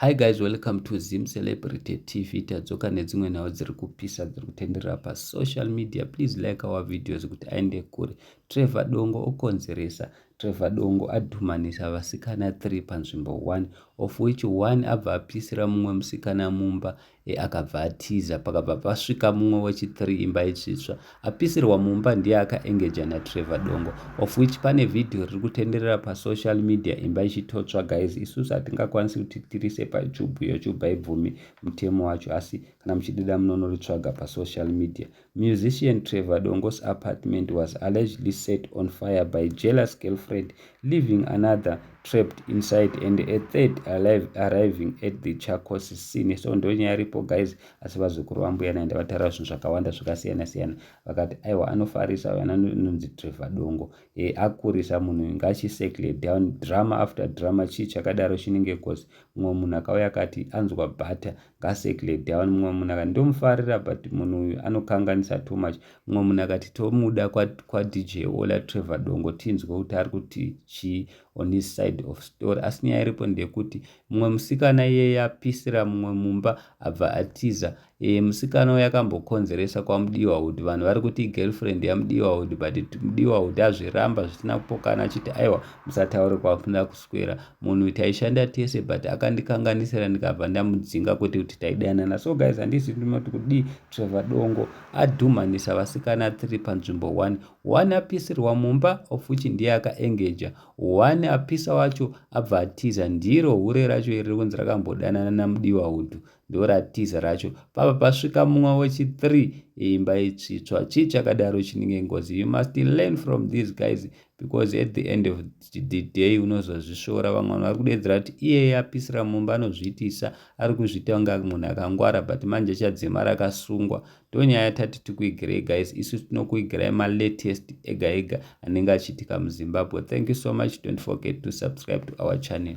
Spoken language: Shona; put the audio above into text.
Hi guys, welcome to Zim Celebrity TV. Tadzoka nedzimwe nhau dziri kupisa dziri kutenderera pa social media. Please like our videos kuti aende kure. Trevor Dongo okonzeresa. Trevor Dongo adhumanisa vasikana 3 panzvimbo 1 of which one abva apisira mumwe musikana mumba E akabva atiza pakabva pasvika mumwe wechi 3 imba itsvitsva apisirwa mumba ndiye aka engeja na Trevor Dongo of which pane video riri kutenderera pa social media imba ichitotsva guys isusu hatingakwanisi kuti tirise pa YouTube youtube haibvumi mutemo wacho asi kana muchidida munonori tsvaga pa social media Musician Trevor Dongo's apartment was allegedly set on fire by jealous girlfriend, leaving another trapped inside and a third alive arriving at the Chacos scene. So ndonyaya iripo guys, asi vazukuru vambuya naenda vataura zvinhu zvakawanda zvakasiyana siyana vakati aiwa anofarisa uyo anonzi Trevor Dongo e, akurisa munhu ngachisekle down drama after drama chii chakadaro chinenge cause mumwe munhu akauya akati anzwa butter Kaseklet hawa mumwe munhu akati ndomufarira but munhu uyu anokanganisa too much mumwe munhu akati tomuda kwadj ola trevor dongo tinzwe kuti ari kuti chii on his side of story asi nyaya iripo ndeyekuti mumwe musikana iye yapisira mumwe mumba abva atiza e, musikana uyo akambokonzeresa kwamudiwa wood vanhu vari kuti igirlfriend yamudiwa wood but mudiwa wood azviramba zvisina kupokana achiti aiwa musataure kwakuda kus kuswera munhu taishanda tese but akandikanganisira ndikabva ndamudzinga kwete kuti taidanana so guys handisi ndinoti kudii trevor dongo adhumanisa vasikana three panzvimbo one one apisirwa mumba of which ndiye akaengeja one apisa wacho abva atiza ndiro hure racho iri rikunzi rakambodanana namudiwa hudhu ndoratiza racho pava pasvika mumwe wechi3 imba itsvitswa chii chakadaro chinenge ngozi you must learn from these guys because at the end of the day unozozvisvora vamwe vanhu vari kudeedzera kuti iyeye apisira mumba anozviitisa ari kuzviita kunge munhu akangwara but manje chadzimara akasungwa ndonyaya tati tikuigirai guys isu tinokuigirai malatest ega ega anenge achiitika muzimbabwe thank you so much don't forget to subscribe to our channel